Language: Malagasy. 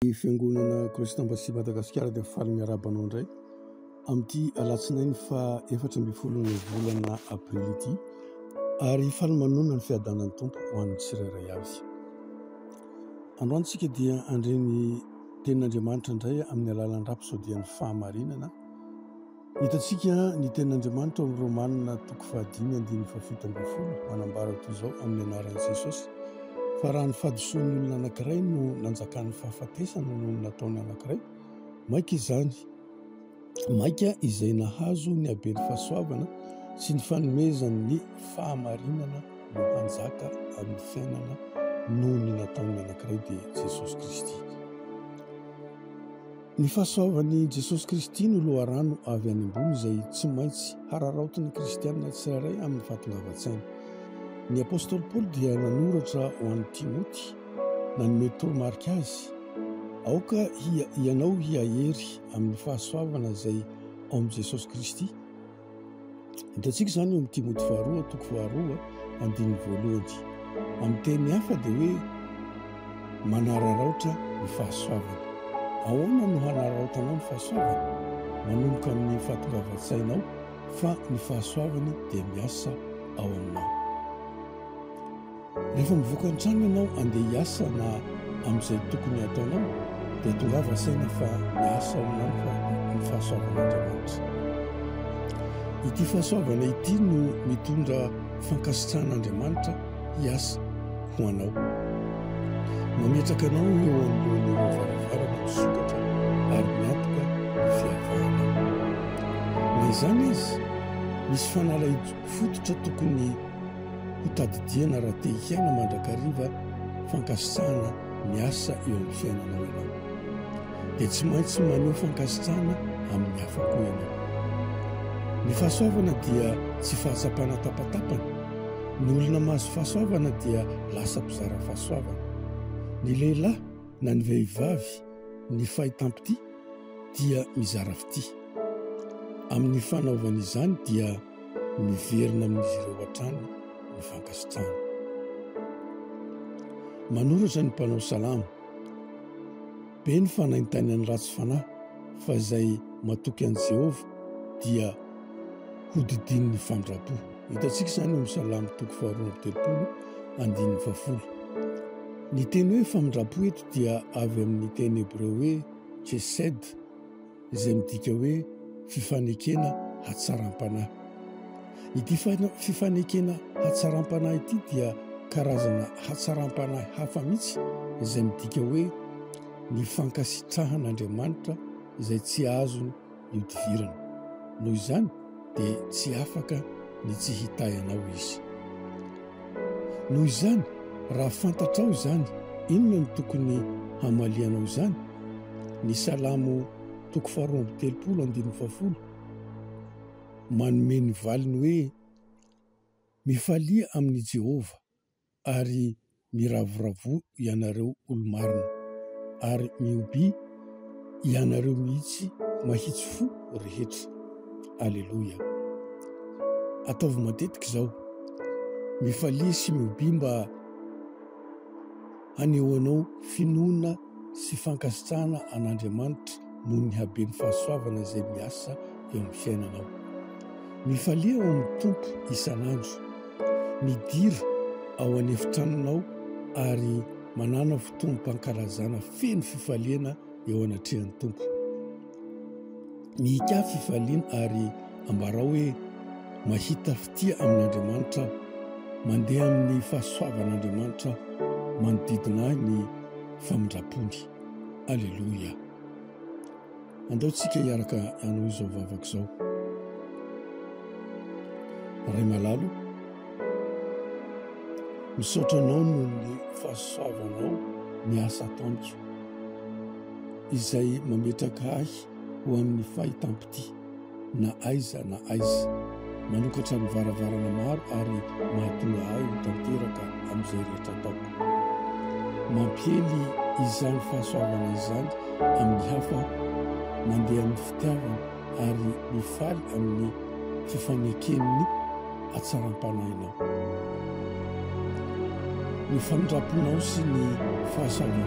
Ny Fiangonana Christ Embassy Madagasikara dia faly miarahaba anao indray amin'ity alatsinainy faha efatra ambin'ny folon'ny volana aprily ity ary faly manonona ny fiadanan'ny Tompo ho an'ny tsirairay avy. Androany tsika dia handre ny tenin'Andriamanitra indray amin'ny alalan'ny rapisodian'ny fahamarinana Hitantsika ny tenin'Andriamanitra ao amin'ny Romana toko fahadimy andininy fahafito ambin'ny folo manambara toy izao amin'ny anaran'i Jesosy, Fa raha ny fahadisoan'ny olona anankiray no nanjakan'ny fahafatesana noho ny nataon'ny anankiray, maika izany, maika izay nahazo ny haben'ny fahasoavana sy ny fanomezan'ny fahamarinana no hanjaka amin'ny fiainana noho ny nataon'ny anankiray, dia Jesosy Kristy. Ny fahasoavan'i Jesosy Kristy no loharano avy any ambony izay tsy maintsy hararaotin'ny Kristianina tsirairay amin'ny fahatongavan-tsainy. Ny apostoly Paoly dia nanoratra ho an'i Timoty, nanome toromarika azy, Aoka hianao hihahery amin'ny fahasoavana izay ao amin'i Jesosy Kristy. Hitantsika izany eo amin'ny Timoty faharoa, toko faharoa, andininy voalohany. Amin'ny teny hafa dia hoe manararaotra ny fahasoavana. Ahoana no hanararaotanao ny fahasoavana? Manomboka amin'ny fahatongavan-tsainao fa ny fahasoavany dia miasa ao aminao. Rehefa mivoaka an-trano ianao handeha hiasa na amin'izay tokony hataonao dia tongava saina fa miasa ao aminao fa ny fahasoavan'Andriamanitra. Ity fahasoavana ity no mitondra fankasitrahan'Andriamanitra hiasa ho anao. Mametraka anao eo ambonin'ireo varavarana misokatra ary miantoka ny fiavanao. Na izany aza, misy fanalahidy fototra tokony hotadidiana raha te hiaina mandrakariva fankasitrahana ny asa eo amin'ny fiainanao ianao. Dia tsy maintsy maneho fankasitrahana amin'ny hafa koa ianao. Ny fahasoavana dia tsy fahatsapana tapatapana. Ny olona mahazo fahasoavana dia lasa mpizara fahasoavana. Ny lehilahy na ny vehivavy ny fahitam-pitia dia mizara fitia. Amin'ny fanaovany izany dia Miverina amin'izy ireo hatrany ny fankasitrahana. Manoratra ny mpanao salamo. Be ny fanaintainan'ny ratsy fanahy fa izay matoky an'i Jehovah dia hodidinin'ny famindram-po. Hitantsika izany amin'ny salamo toko faharoa amby telopolo andininy fahafolo. Ny teny hoe famindram-po eto dia avy amin'ny teny hebreo hoe chesed, izay midika hoe fifanekena hatsaram-panahy. Ity fifanekena hatsaram-panahy ity dia karazana hatsaram-panahy hafa mihitsy izay midika hoe ny fankasitrahan'Andriamanitra izay tsy azony ihodivirana. Noho izany dia tsy afaka ny tsy hitahy anao izy. Noho izany, raha fantatrao izany, inona no tokony hamalianao izany? Ny Salamo toko faharoa amby telopolo andininy fahafolo manome ny valiny hoe, Mifalia amin'i Jehovah, ary miravoravoa ianareo olo-marina, ary mihoby ianareo mihitsy mahitsy fo rehetra. Aleloia. Ataovy matetika izao. Mifalia sy miobia mba hanehoanao finoana sy fankasitrahana an'Andriamanitra noho ny haben'ny fahasoavana izay miasa eo amin'ny fiainanao. Mifalia ao amin'ny Tompo isan'andro. Midira ao an'efitranonao ary Manana fotoam-pankalazana feno fifaliana eo anatrehan'ny Tompo. Mihika fifaliana ary ambarao hoe mahita fitia amin'Andriamanitra aho. Mandeha amin'ny fahasoavan'Andriamanitra manodidina ahy ny famindram-pony. Aleloia. Andao tsika hiaraka hanao izao vavaka izao. Ray malalo, misaotra anao noho ny fahasoavanao ny asa ataonko, izay mametraka ahy ho amin'ny fahitam-pitia. na aiza na aiza, manokatra ny varavarana maro ary mahatonga ahy ho tanteraka amin'izay rehetra ataoko. Mampiely izany fahasoavana izany amin'ny hafa aho, mandeha amin'ny fitiavana ary mifaly amin'ny fifaneken'ny hatsaram-panahinao. Ny famindramponao sy ny fahasoavanao.